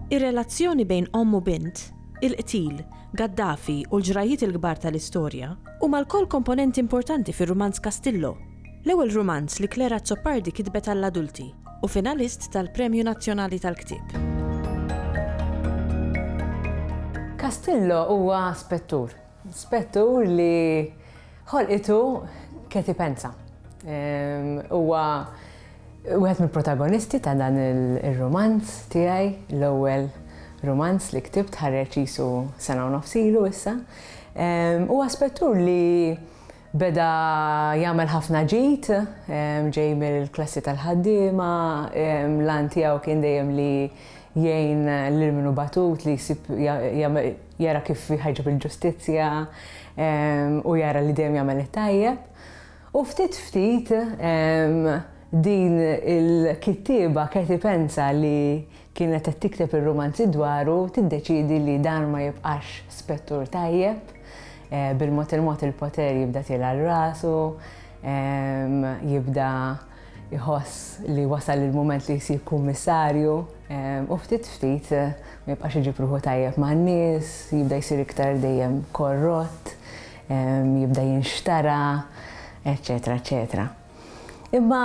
Ir-relazzjoni bejn omm u bint, il-qtil, Gaddafi u l-ġrajjiet il-kbar tal-istorja huma lkoll komponenti importanti fir-rumanz Castillo. L-ewwel rumanz li Claire Azzopardi kitbet għall-adulti, u finalist tal-Premju Nazzjonali tal-Ktieb. Castillo huwa spettur. Spettur li ħolqitu Katie Penza. Huwa wieħed mill-protagonisti ta' dan ir-rumanz tiegħi, l-ewwel rumanz li ktibt ħareġ qisu sena u nofs ilu issa. Huwa spettur li Beda jagħmel ħafna ġid, ġej mill-klassi tal-ħaddiema, l-għan tiegħu kien dejjem li jgħin lil min hu batut, li jsib jara kif jħarġu bil-ġustizzja u jara li dejjem jagħmel it-tajjeb. U ftit ftit din il-kittieba Katie Pensa li kienet qed tikteb ir-rumanzi dwaru tiddeċiedi li dan ma jibqax spettur tajjeb, bil-mod il-mod il-poter jibda tielgħa rasu, jibda jħoss li wasal il-mument li jsir kummissarju u ftit ftit ma jibqax iġib ruħu tajjeb man-nies, jibda jsir iktar dejjem korrott, jibda jinxtara, eċċetera eċċetera. Imma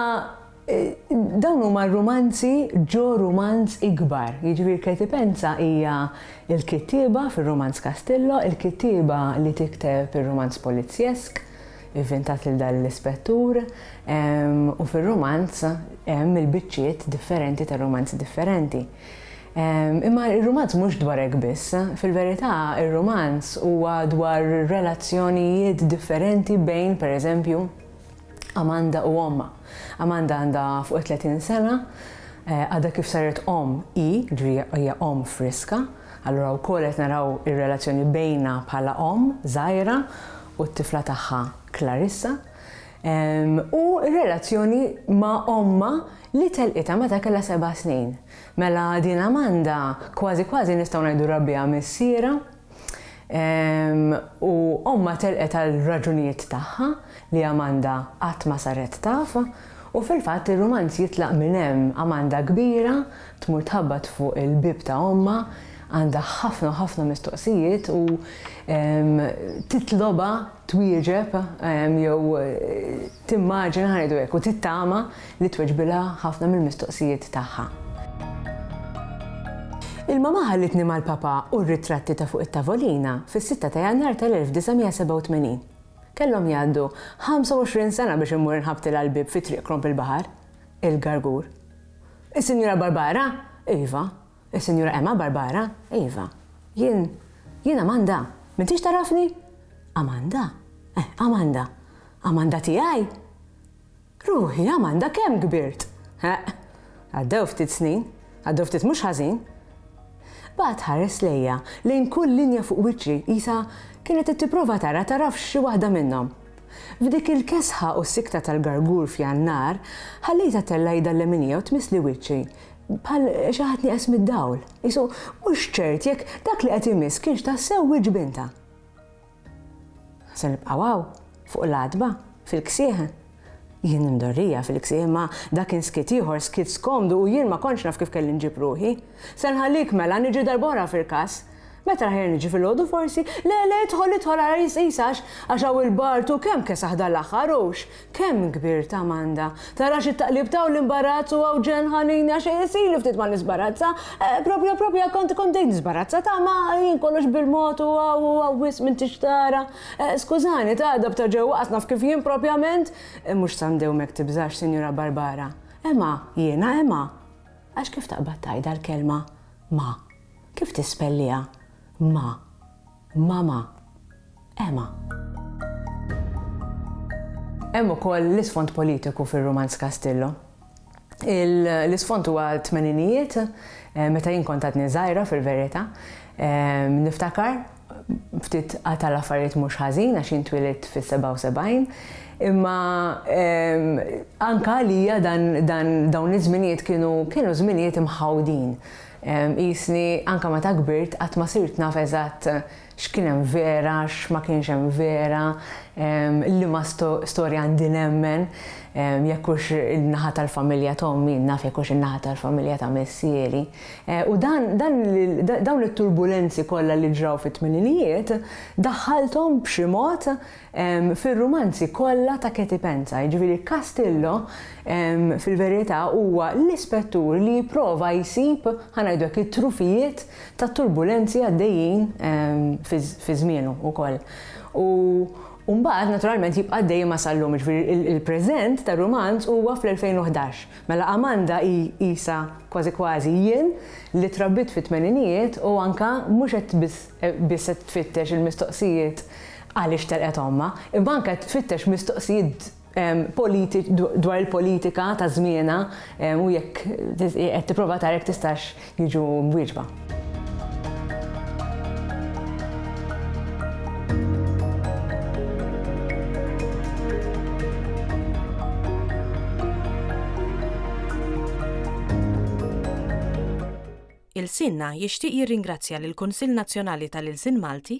Dawn huma r-rumanzi ġo rumanz ikbar, jiġifieri Ketipenza hija l-kittieba fir-rumanz Castillo, il-kittieba li tikteb ir-rumanz polizzjesk, ivvintat lil dan l-ispettur, u fir-rumanz hemm il-biċċiet differenti ta' rumanzi differenti. Imma r-rumanz mhux dwar hekk biss, fil-verità r-rumanz huwa dwar relazzjonijiet differenti bejn, pereżempju, Amanda u ommha. Amanda għandha fuq it-30 sena, għadha kif saret omm hi, jiġifieri hija omm friska, allura wkoll qed naraw ir-relazzjoni bejnha bħala omm żgħira u t-tifla tagħha Clarissa, u r-relazzjoni ma' ommha li telqitha meta kellha seba' snin. Mela din Amanda kważi kważi nistgħu ngħidu rabbiha missierha. U ommha telqet għal raġunijiet tagħha li Amanda qatt ma saret taf, u fil-fatt ir-rumanz jitlaq minn hemm, Amanda kbira tmur tħabbat fuq il-bieb ta' ommha, għandha ħafna u ħafna mistoqsijiet u titlobha twieġeb jew Timmaġina, ħa ngħidu hekk, u tittama li tweġbilha ħafna mill-mistoqsijiet tagħha. Il-mamà ħallitni mal-papà u r-ritratti ta' fuq it-tavolina fis-sitta ta' Jannar tal-1987. Kellhom jgħaddu 25 sena biex immur inħabbtilha għall-bieb fi Triq Kromp il-Baħar, il-Gargur. Is-Sinjura Barbara? Iva, Is-Sinjura Emma, Barbara, Iva. Jien, jien Amanda. M'intix tagħrafni? Amanda? Eh, Amanda. Amanda tiegħi? Ruħi, Amanda, kemm kbirt? Eq, għaddew ftit snin, għaddew ftit mhux ħażin. Baqgħet tħares lejja lejn kull linja fuq wiċċi qisha kienet qed tipprova tara taraf xi waħda minnhom. F'dik il-kesħa u s-sikta tal-gargur f'Jannar, ħallejta tellajda l-leminija u tmissli wiċċi, Bħal xi ħadd nieqes mid-dawl, isu mhux ċert jekk dak li qed imiss kienx tassew wiċċ bintha. Se nibqgħu hawn fuq l-għatba fil-ksieħ. Jien imdorrija fil-ksieħ ma dak inskit ieħor skit skomdu u jien ma kontx naf kif kelli nġib ruħi. Se nħallik mela niġi darbora fil-każ. Meta aħjar niġi filgħodu forsi? Le, le, idħol, idħol ara jisqis għax, għax hawn il-bard hu kemm kesaħ dal-aħħar, hux kemm kbir ta' Amanda. Tarax it-taqlib ta' u l-imbarazz u Ewġen ħanini għax illi ftit ma nisbarazza. Propja, propja kont, kont bdejt nisbarazza ta' ma jien kollox bil-mod u hawn, u hawn wisq minn tixtara. Skużani ta' għadab ta' ġewwa qas naf kif jien propjament. Mhux sa ndewmek tibżax, Sinjura Barbara. Ema, jiena Ema. Għax kif taqbad tgħidha l-kelma ma? Kif tispelliha? Ma. Mama. Ema. Hemm ukoll l-isfond politiku fir-rumanz Castillo. L-isfond huwa tmeninijiet, eh, meta jien kont għadni żgħira fil-verità, eh, niftakar ftit għata l-affarijiet mhux ħażin għax jintwilit fis-77, imma eh, anka għalija dan dawn iż-żminijiet kienu kienu żminijiet imħawdin. Qisni anke meta kbirt qatt ma sirt naf eżatt x'kien hemm vera, x'ma kienx hemm vera, liema storja għandi nemmen, jekk hux in-naħa tal-familja ta' ommi, naf jekk hux in-naħa tal-familja ta' missieri. U dan, dawn it-turbulenzi kollha li ġraw fit-tmeninijiet daħħalthom b'xi mod fir-rumanzi kollha ta' Katie Penza, jiġifieri Castillo fil-verità huwa l-ispettur li jipprova jsib, ħa ngħidu hekk, it-trufijiet tat-turbulenzi għaddejjin fi żmienu wkoll. U mbagħad naturalment jibqa' għaddej ma' sal-lum, jiġifieri il-preżent tar-rumanz huwa fl-2011. Mela Amanda hi qisha kważi kważi jien li trabbit fit-tmeninijiet u anke mhux qed biss qed tfittex il-mistoqsijiet għaliex telqet ommha, imma anke qed tfittex mistoqsijiet politiċi dwar il-politika ta' żmienha u jekk qed tipprova tara jekk tistax jiġu mwieġba. Ilsienna jixtieq jirringrazzja lill-Kunsill Nazzjonali tal-Ilsien Malti,